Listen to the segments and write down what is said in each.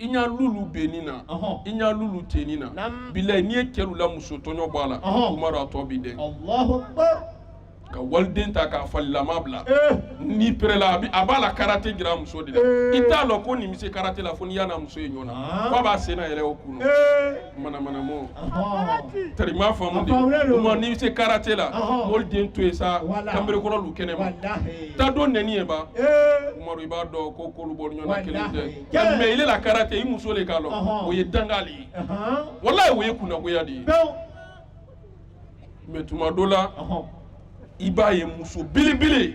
i ɲa lulu bɛ nin na i ɲa lulu tɛ nin na bilayi n'i ye cɛlu la muso tɔɲɔ bɔ a la umaru a tɔ b'i dɛn ka waliden ta k'a falilama bila n'i perela a b'a la karate jira muso de la i t'a dɔn ko nin bɛ se karate la fo n'i y'a n'a muso ye ɲɔgɔn na f'a b'a sen nayɛlɛ o kun na manamana mɔ tari ma faamu de kuma n'i se karate la mɔlu den to yen sa kanberekɔrɔ lu kɛnɛ ma taa dɔ nɛni ye ba umaru i b'a dɔn ko k'olu bɔ ɲɔgɔnna kelen de mɛ ile la karate i muso de k'a dɔn o ye danga le ye walayi o ye kunnagoya de ye mɛ tuma dɔ la i b'a ye muso belebele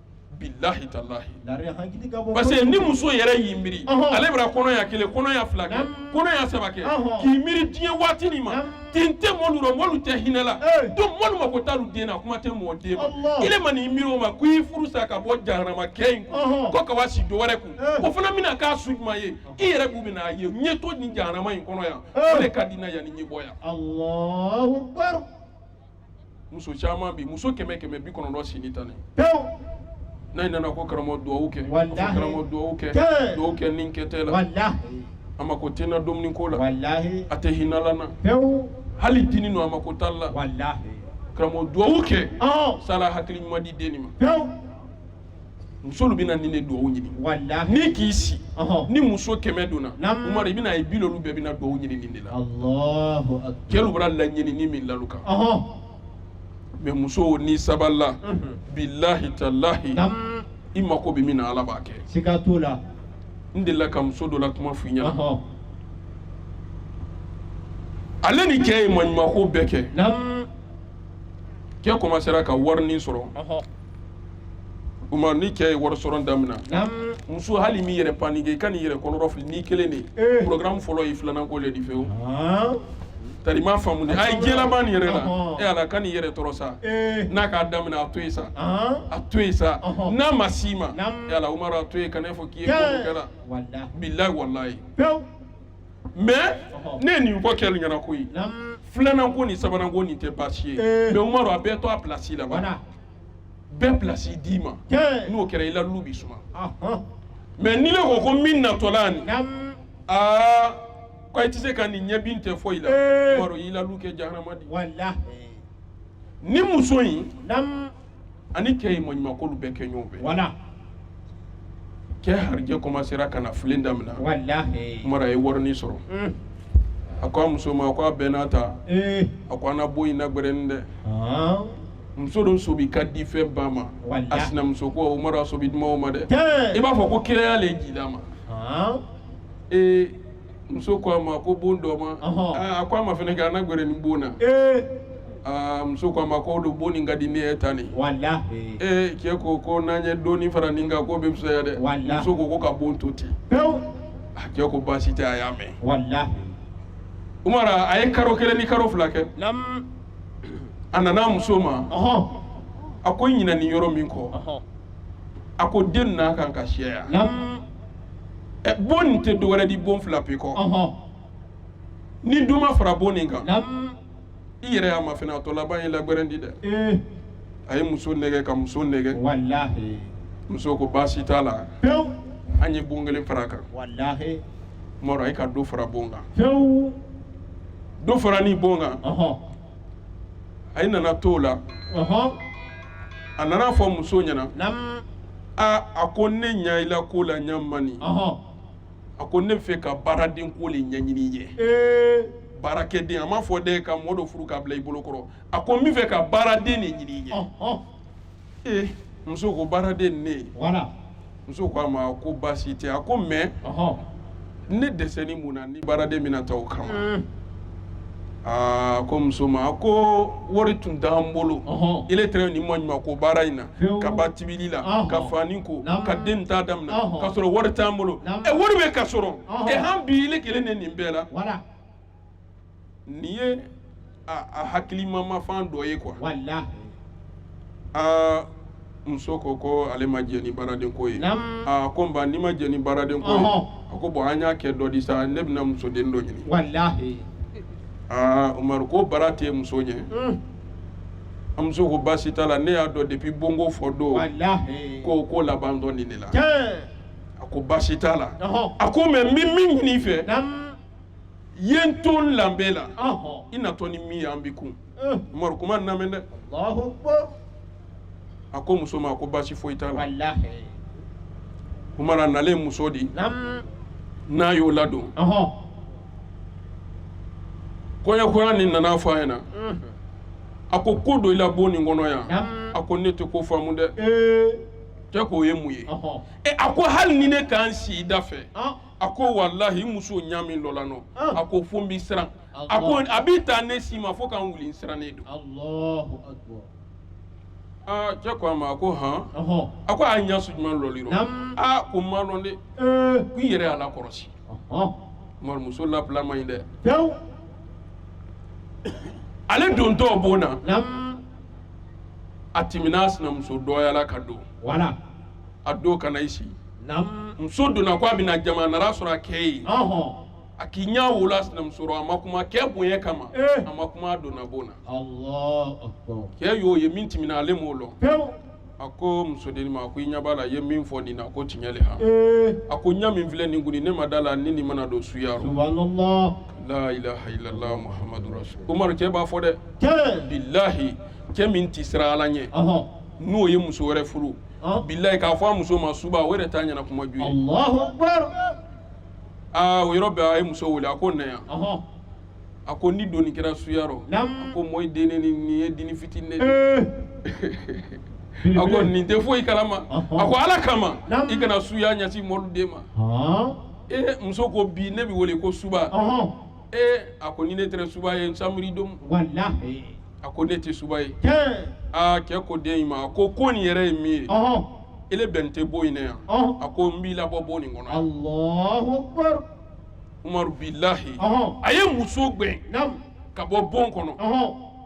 bilahi talahi parce que ni muso yɛrɛ y'i miiri ale bara kɔnɔya kelen kɔnɔya fila kɛ kɔnɔya saba kɛ k'i miiri diɲɛ waati nin ma tin tɛ mɔlu rɔ mɔlu tɛ hinɛ la donc mɔlu mako t'alu den na kuma tɛ mɔgɔ den ma ile ma n'i miiri o ma ko i furu sa ka bɔ jahanama kɛ in kun ko ka wa si dɔwɛrɛ kun o fana bɛna k'a su jumɛn ye i yɛrɛ b'u bɛna a ye n ye to nin jahanama in kɔnɔ yan o de ka di n na yanni n ye bɔ yan muso caman bi muso kɛmɛ kɛmɛ bi kɔnɔntɔn sini tan ni pewu n'a nana ko karamɔgɔ dugawu kɛ karamɔgɔ dugawu kɛ nin kɛ tɛ la a mako tɛ n na dumuni ko la a tɛ hinala n na pewu hali dini don a mako t'a la karamɔgɔ dugawu kɛ s'ala hakili ɲuman di den ma pewu musolu bɛna nin de dugawu ɲini walahi ni k'i si Ɔhɔn. ni muso kɛmɛ donna Naam. umaru i bɛna ye bi loolu bɛɛ bɛna dugawu ɲini nin de la Allahu akbar. kɛlu bara laɲinini min l'alu kan Ɔhɔn. mɛ muso ni sabalila Mhm. bilahi talahi Naam. i mako bɛ min na ala b'a kɛ Siga t'o la. n delila ka muso dɔ la kuma f'i ɲɛna Ɔhɔn. ale ni cɛ ye maɲumako bɛɛ kɛ Naam. cɛ kɔmansera ka warinin sɔrɔ Ɔhɔn. umaru ni cɛ ye wari sɔrɔ damina muso hali m'i yɛrɛ panike i kan'i yɛrɛ kɔnɔrɔfili ni kelen de eh. programme fɔlɔ ye filanan ko le di fewu tari ma faamu a ye diɲɛlaban nin yɛrɛ la e ala kan'i yɛrɛ tɔɔrɔ sa eh. n'a k'a daminɛ a to yen sa a to yen sa n'a ma s'i ma e ala umaru a to yen kan'a fɔ k'i ye kɛra bilayi walayi mɛ ne ye nin fɔ kɛlu ɲɛna koyi filanan ko ni sabanan ko nin tɛ baasi ye mɛ umaru a bɛɛ to a pilasi la bɛɛ pilasi d'i ma n'o kɛra i la lu bi suma mɛ n'ile ko ko min natɔla ni aa ko i tɛ se ka nin ɲɛbin tɛ foyi la umaru y'i la lu kɛ jahanama di ni muso in ani cɛ ye maɲumakolu bɛɛ kɛ ɲɔgɔn fɛ wala cɛ harijɛ commencera ka na fulen damina walahi umaru a ye warinin sɔrɔ mm. a ko a muso ma ko Aminata eh. a ko an na bon in nagbɛrɛnni dɛ ah. muso dɔ sobi ka di fɛn ba ma a sinamuso ko umaru a sobi duman o ma dɛ i b'a fɔ ko kiraya le jida a ma ah. ee muso ko a ma ko bon dɔɔman Ɔhɔn. Aa, a ko a ma fɛnɛ kɛ an nagbɛrɛnni bon na ee Aa, muso ko a ma ko o don bon nin ka di ne ye tan nin walahi ee cɛ ko ko n'an ye dɔɔni fara nin kan k'o bɛ fisaya dɛ Wala. muso ko ko ka bon to ten pewu a cɛ ko baasi tɛ a y'a mɛn walahi umaru a ye karo kelen ni karo fila kɛ Nam. a nana a muso ma ɔhɔn a ko i ɲinani yɔrɔ min kɔ Ɔhɔn. a ko den na kan ka siyaya Nam. ɛ bon nin tɛ dɔwɛrɛ di bon fila pe kɔ ɔhɔn ni do ma fara bon nin kan nam i yɛrɛ y'a mafɛnɛ a tɔ laban ye lagbɛrɛn di dɛ ee a ye muso nɛgɛ ka muso nɛgɛ walahi muso ko baasi t'a la pewu an ye bon kelen fara a kan walahi umaru a ye ka do fara bon kan fewu do farani bon kan ɔhɔn a ye nana to la a nana a fɔ muso ɲɛna aa a ko ne ɲa i la ko la ɲa mani a ko ne fɛ ka baaraden ko le ɲɛɲini ye baarakɛden a m'a fɔ dɛ ka mɔgɔ dɔ furu k'a bila i bolo kɔrɔ a ko n bɛ fɛ ka baaraden le ɲini ye ee muso ko baaraden ne muso ko a ma ko baasi tɛ a ko mais ne dɛsɛni mun na ni baaraden bɛna ta o kama mm. aa ko muso ma ko wari tun t'an bolo ile tɛrɛ nin maɲumako baara in na ka gba tibili la ka fani ko ka den ta daminɛ ka sɔrɔ wari t'an bolo ɛ wari bɛ ka sɔrɔ ɛ han bi ile kelen ne nin bɛɛ la nin ye a hakilimamafan dɔ ye quoi aa muso ko ko ale ma jɛn ni baaraden ko ye aa ko nba n'i ma jɛn ni baaraden ko ye a ko bon an y'a kɛ dɔ di sa ne bɛna musoden dɔ ɲini walahi umaru ko baara tɛ muso ɲɛ hmm. a muso ko baasi t'a la ne y'a dɔn depuis bonko fɔ don ko ko labantɔ nin ne la a ko baasi t'a la a ko mais n bɛ min ɲini i fɛ ye n to n lanbe la Ɔhɔn. i natɔ ni min ye an bi kun Eh. umaru kuma in lamɛn dɛ Allahu Akbar. a ko muso ma a ko baasi foyi t'a la Wallahi. umaru a nalen muso di Nam. n'a y'o ladon Ɔhɔn. kɔɲɔkura nin nana a fɔ a ɲɛna Mhm. a ko ko dɔ i la bon nin kɔnɔ yan Nam. a ko ne tɛ k'o faamu dɛ Ee. cɛ k'o ye mun ye Ɔhɔn. ɛ a ko hali ni ne ka n sii i dafɛ Ɔn. a ko walahi muso ɲa min lɔla n nɔ a ko fo n bɛ siran a ko a bɛ taa ne si ma fo ka n wuli n sirannen don aa cɛ ko a ma a ko hɔn a ko a ɲa su jumɛn lɔl'i rɔ aa ko n ma dɔn dɛ ko i yɛrɛ y'a lakɔrɔsi umaru muso labila man ɲi dɛ ale dontɔ bon na a tɛmɛna a sinamuso dɔyala ka don a don ka na i si Naamu. Muso donna k'a bɛna jama, a nan'a sɔrɔ a cɛ ye yen. Ɔnhɔn. A k'i ɲɛ o lɔ a sinamuso rɔ, a ma kuma cɛ bonya kama. Ee! A ma kuma a donna bon na. Allahou Akbarou. Cɛ y'o ye min tɛmɛna ale m'o dɔn. Pewu! A ko muso dennin ma, a ko i ɲɛ b'a la, i ye min fɔ nin na, k'o tiɲɛ de han. Ee! A ko ɲɛ min filɛ nin kuni, ne ma d'a la, ni nin ma na don suya rɔ. Subahanallahi. Laa ilaah ilalaah Mohamadu rasulu. Umaru cɛ b'a fɔ dɛ. Cɛɛ! Bilahi cɛ min tɛ siran Ala ɲɛ. Ɔnhɔn. N'o ye muso wɛrɛ furu. Ɔn. bilayi k'a fɔ a muso ma suba o yɛrɛ t'a ɲɛna kuma ju ye Allahu akbar. aa o yɔrɔ bɛɛ a ye muso wele a ko na yan Ɔhɔn. a ko n'i donni kɛra suya rɔ Naam. a ko mɔyi dennin nin ye denni fitini de ye. Ee. a ko nin tɛ foyi kalama Ɔhɔn. a ko ala kama Naam. i kana suya ɲɛsin mɔlu den ma Ɔn. ee muso ko bi ne bɛ wele ko suba Ɔhɔn. ee a ko ni ne tɛrɛ suba ye n samiri don walahi a ko ne tɛ suba ye tiɲɛ aa cɛ ko den in ma a ko ko nin yɛrɛ ye min ye ɔhɔn ele bɛn tɛ bon in na yan ɔhɔn a ko n b'i labɔ bon nin kɔnɔ yan alahu akbar umaru bilahi ɔhɔn a ye muso gɛn naamu ka bɔ bon kɔnɔ ɔhɔn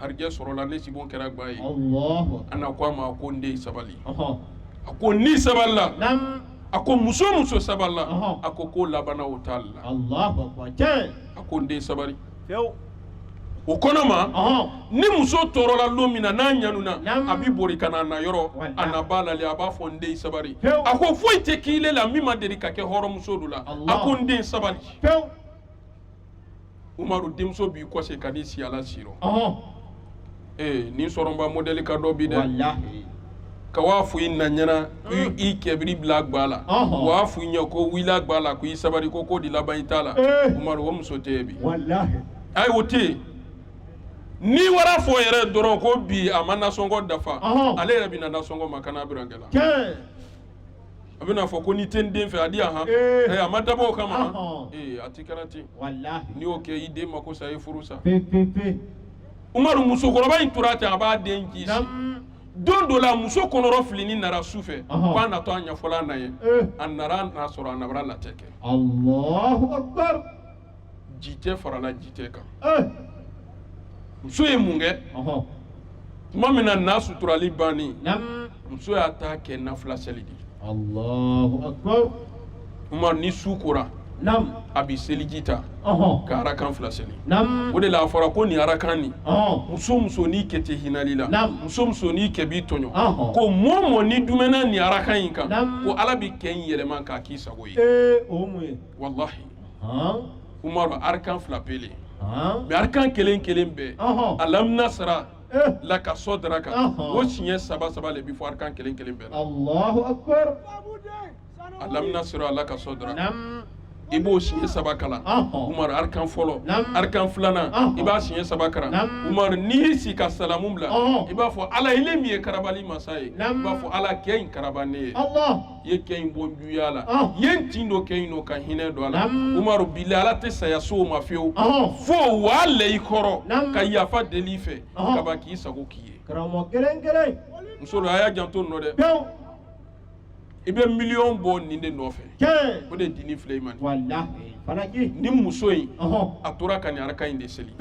harijɛ sɔrɔla ne sibon kɛra gba ye Alahu akbar. a na ko a ma ko n den sabali Ɔhɔ. a ko n'i sabalila Naam. a ko muso o muso sabalila Ɔhɔ. a ko ko laban na o ta la Alahu akbar. Tiɲɛ. a ko n den sabali Fiyewu. o kɔnɔ ma Ɔhɔ. ni muso tɔɔrɔla don min na n'a ɲanuna Naam. a bi bori ka na a na yɔrɔ Walahi. a na b'a lali a b'a fɔ n den sabali Pewu. a ko foyi tɛ kɛ ile la min ma deli ka kɛ hɔrɔnmuso dɔ la a Alahu. ko n den sabali Fiyewu. umaru denmuso b'i kɔse ka n'i si a la si rɔ ɔhɔn ee nin sɔrɔba modɛli ka dɔ bi dɛ walahi ka wa a fɔ i na ɲɛna i- i kɛ bar'i bila gba la Ɔhɔn. waa fɔ i ɲɛ ko wa i la gba la ko i sabari ko ko di laban i ta la Ee. umaru o muso tɛ yen bi walahi ayi o tɛ yen n'i war'a fɔ yɛrɛ dɔrɔn ko bi a ma nasɔngɔ dafa Ɔhɔn. ale yɛrɛ bɛ na nasɔngɔ makan'a birankɛ la tiɲɛ a bɛna a fɔ ko n'i tɛ n den fɛ a di yan han Ee. Ɛ, a ma dabɔ o kama han. Ɔhɔn. ee a ti kɛra ten walahi n'i y'o kɛ i den mako sa i furu sa pe pe pe umaru musokɔrɔba in tora ten a b'a den kisi nam don dɔ la muso kɔnɔrɔfilinin nara su fɛ Ɔhɔn. k'a natɔ a ɲɛfɔ la a na ye Ee. a nara n'a sɔrɔ a na bara latɛ kɛ allahu akbar jitɛ farala jitɛ kan eh! muso ye mun kɛ tuma min na na suturali banni muso y'a ta kɛ nafila seli de Allahu akbar umaru ni su kora a bɛ seliji ta ka arakan fila seli o de la a fɔra ko nin arakan nin muso muso n'i kɛ tɛ hinal'i la muso muso n'i kɛ b'i tɔɲɔ ko mɔ mɔ ni dumɛna nin arakan in kan ko ala bɛ kɛ in yɛlɛma k'a k'i sago ye o mun ye walahi arakan fila pe le mɛ arakan kelen kelen bɛɛ alam nasara laka sodraka o siɲɛ saba saba de bɛ fɔ arakan kelen kelen bɛɛ la alam nasara laka sodraka i b'o siɲɛ saba kalan umaru arakan fɔlɔ arakan filanan i b'a siɲɛ saba kalan umaru n'i si ka salamu bila i b'a fɔ ala ile min ye karabali masa ye i b'a fɔ ala kɛ in karaba ne ye ye kɛ in bɔ juguya la i ye n tin don kɛ in nɔ ka hinɛ don a la umaru bilahi ala tɛ saya s'o ma fiyewu fo wa la i kɔrɔ ka yafa deli i fɛ ka ban k'i sago k'i ye karamɔgɔ kelen kelen musolu a y'a janto nɔ dɛ i bɛ miliyɔn bɔ nin de nɔfɛ o de dini filɛ i ma nin muso in a tora ka nin araka in de seli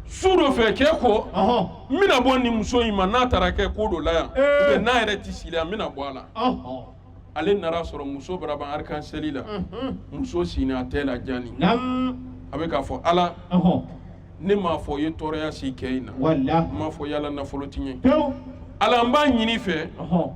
su dɔ fɛ kɛ ko n bɛna bɔ nin muso in ma n'a tara kɛ ko dɔ la yan ou bien n'a yɛrɛ tɛ si la yan n bɛna bɔ a la ale nan'a sɔrɔ muso bara ban arakan seli la muso sini a tɛ lajani a bɛ k'a fɔ ala ne m'a fɔ i ye tɔɔrɔya si kɛ in na n m'a fɔ i y'a la nafolo tiɲɛ Ala n b'a ɲin'i fɛ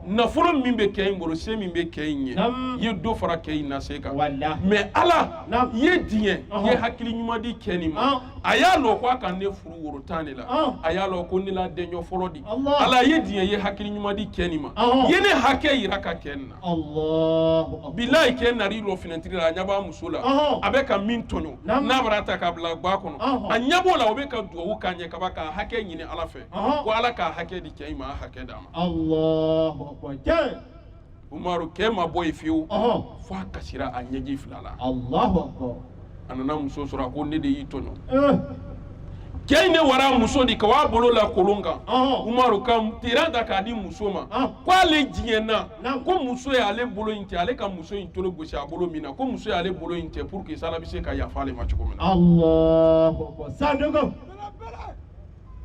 nafolo min bɛ kɛ in bolo se min bɛ kɛ in ye i ye dɔ fara kɛ in na se kan mɛ ala i ye diɲɛ i ye hakili ɲuman di kɛ nin ma a y'a lɔn ko a ka ne furu woro tan de la a y'a lɔn ko ne l'a dɛɲɔ fɔlɔ di ala i ye diɲɛ i ye hakili ɲuman di kɛ nin ma i ye ne hakɛ yiraka kɛ nin na bilahi kɛ nar'i lɔ finɛtiri la a ɲɛ b'a muso la a bɛ ka min tɔɲɔ n'a bar'a ta k'a bila gba kɔnɔ a ɲɛ b'o la o bɛ ka duwawu k'a ɲɛ ka ban k'a hakɛ ɲini ala fɛ Ɔhɔn. ko ala k'a hakɛ di kɛ in ma a hakɛ d'a ma Allahu akbar. Cɛ. umaru kɛ ma bɔ yen fiyewu Ɔhɔn. fo a kasira a ɲɛji fila la Allahu akbar. a nana muso sɔrɔ a ko ne de y'i tɔɲɔ Eh. kɛ in ne wara muso di ka w'a bolo la kolon kan Ɔhɔn. umaru ka teran ta k'a di muso ma Ɔhɔn. ko ale jiɲɛna Naamu. ko muso y'ale bolo in tɛ ale ka muso in tolo gosi a bolo min na ko muso y'ale bolo in tɛ pour que s'ala bɛ se ka yafa ale ma cogo min na Allahu akbar. Sanduko.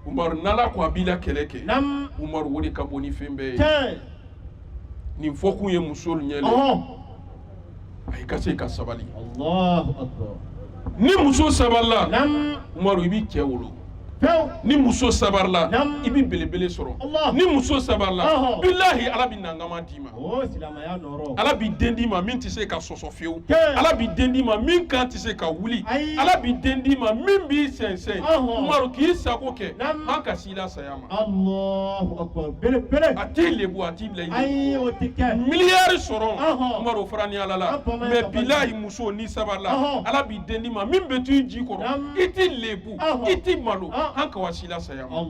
umaru n'ala ko a b'i la kɛlɛ kɛ Naam. umaru o de ka bon ni fɛn bɛɛ ye Tiɲɛ. nin fɔkun ye musow ɲɛ le Ɔhɔn. ayi ka se ka sabali Allahu akbar. ni muso sabarila Naam. umaru i bi kɛ wolo Pewu. ni muso sabarila Naam. i bɛ belebele sɔrɔ Allah. ni muso sabarila Ɔhɔn. bilahi ala bɛ nankama di ala b'i den d'i ma min tɛ se ka sɔsɔ fewu ala b'i den d'i ma min kan tɛ se ka wuli ala b'i den d'i ma min b'i sɛnsɛn umaru k'i sago kɛ an ka s'i la saya ma a t'i lebu a t'i bila i miliyari sɔrɔ umaru fara ni ala la mais bilahi muso n'i sabarila ala b'i den d'i ma min bɛ to i ji kɔrɔ i t'i lebu i t'i malo an ka wa s'i la saya ma.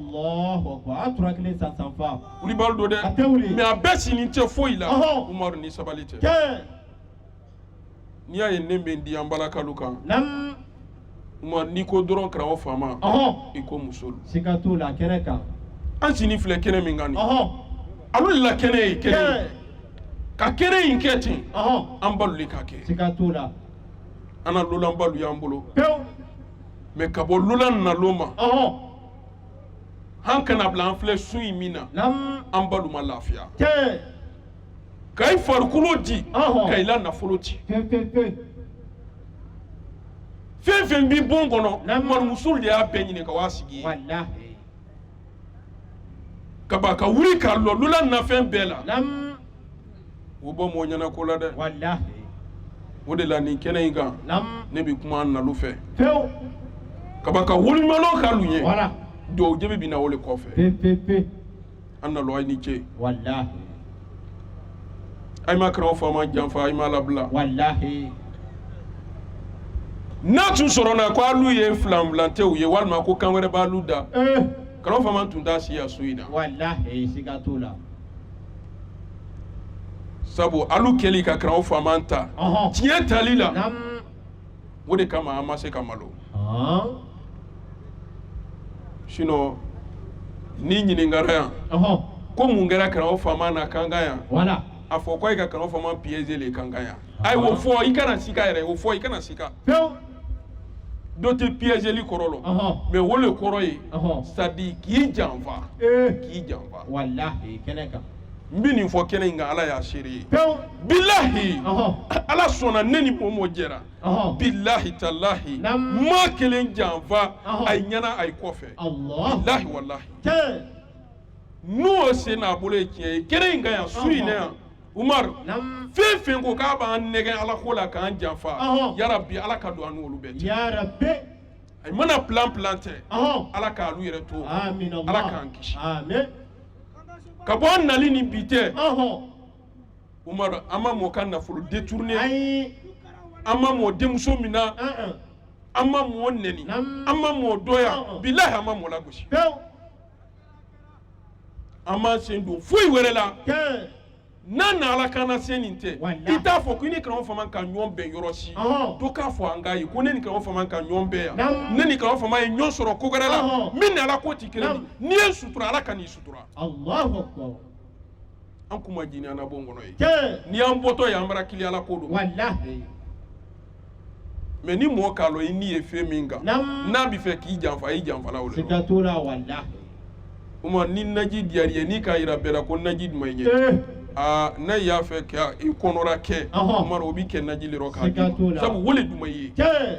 wulibali don dɛ A tɛ wuli. mais a bɛɛ sini tɛ foyi la Ɔhɔn. umaru ni sabali tɛ Tiɲɛ. n'i y'a ye ne bɛ n di an balakalu kan Naam. umaru n'i ko dɔrɔn karamɔgɔ faama Ɔhɔn. i ko muso don Siga t'o la kɛnɛ kan. an sini filɛ kɛnɛ min kan nin Ɔhɔn. olu de la kɛnɛ ye kɛnɛ Tiɲɛ. ye. ka kɛnɛ in kɛ ten Ɔhɔn. an balu de k'a kɛ Siga t'o la. an na lolanbalu y'an bolo Pewu. mais ka bɔ lolan nalon ma Ɔhɔn. han ka n'a bila an filɛ su in min na Namu. an balu ma lafiya Tiɲɛ. ka i farikolo di Ɔhɔn. ka i la nafolo ci Tiɲɛ tiɲɛ tiɲɛ. fɛn o fɛn b'i bon kɔnɔ Namu. umaru musolu de y'a bɛɛ ɲini ka w'a sigi ye Walahi. ka ban ka wuli ka lɔ lolan na fɛn bɛɛ la Namu. o bɔ mɔgɔ ɲɛna ko la dɛ walahi o de la nin kɛnɛ in kan namu ne bɛ kuma an nalu fɛ pewu ka ban ka waliɲumanlɔn k'alu ye wala duwawu jaabi bɛ na o de kɔfɛ pe pe pe an nalu a ye ni ce walahi a ye ma karamɔgɔ faama janfa a ye m'a labila walahi n'a tun sɔrɔla ko alu ye filanfilantew ye walima ko kan wɛrɛ b'alu da ee karamɔgɔ faama tun t'a si yan so in na walahi siga t'o la sabu alu kɛli ka karamɔgɔ faama ta ɔhɔn tiɲɛ tali la naam o de kama an ma se ka malo ɔhɔn sinon n'i ɲininkara yan ɔhɔn ko mun kɛra karamɔgɔ faama na kankan yan wala a fɔ ko a ye ka karamɔgɔ faama piéger le kankan yan a ye o fɔ i kana sika yɛrɛ o fɔ i kana sika pewu dɔ tɛ piégeli kɔrɔ lɔn ɔhɔn mais o le kɔrɔ ye ɔhɔn c'est-à-dire k'i janfa ee k'i janfa walahi kɛnɛ kan n bɛ nin fɔ kɛnɛ in kan ala y'a seere ye pewu bilahi ɔhɔn ala sɔnna ne ni mɔɔ mɔɔ jɛra ɔhɔn bilahi talahi Naam. n ma kelen janfa Ɔhɔn. a ye ɲɛna a ye kɔfɛ Allah bilahi walahi n'o sen n'a bolo ye tiɲɛ ye kɛnɛ in kan yan su in na yan Umaru fɛn fɛn ko k'a b'an nɛgɛ ala ko la k'an janfa yarabi ala ka don an n'olu bɛɛ cɛ a mana plan planter ala k'alu yɛrɛ to ala k'an kisi ka bɔ an nali ni bi tɛ Umaru an ma mɔɔ ka nafolo détourner an ma mɔɔ denmuso mina an ma mɔɔ nɛni an ma mɔɔ dɔya bilahi an ma mɔɔ lagosi an m'an sen don foyi wɛrɛ la n'a na ala kana se nin tɛ i t'a fɔ ko ne karamɔgɔ fama ka ɲɔgɔn bɛn yɔrɔ si to k'a fɔ an ka ye ko ne ni karamɔgɔ fama ka ɲɔgɔn bɛn yan ne ni karamɔgɔ fama ye ɲɔgɔn sɔrɔ ko wɛrɛ la min ni ala ko tɛ kelen n'i ye sutura ala ka n'i sutura an kun ma jini anabo kɔnɔ ye cɛ n'i y'an bɔtɔ ye an bara kili ala ko don walahi mɛ ni mɔɔ k'a lɔn i ni ye fɛn min kan Naam. n'a bi fɛ k'i janfa a y'i janfala o le siga lɔ t'o la walahi uma ni naji diyar'i ye n'i k'a yira bɛɛ la ko naji duma i ɲɛ ee aa n'a y'a fɛ ka i kɔnɔra kɛ Ɔhɔn. umaru o bi kɛ naji le rɔ k'a Siga t'o d'i la. ma sabu o le duma i ye cɛ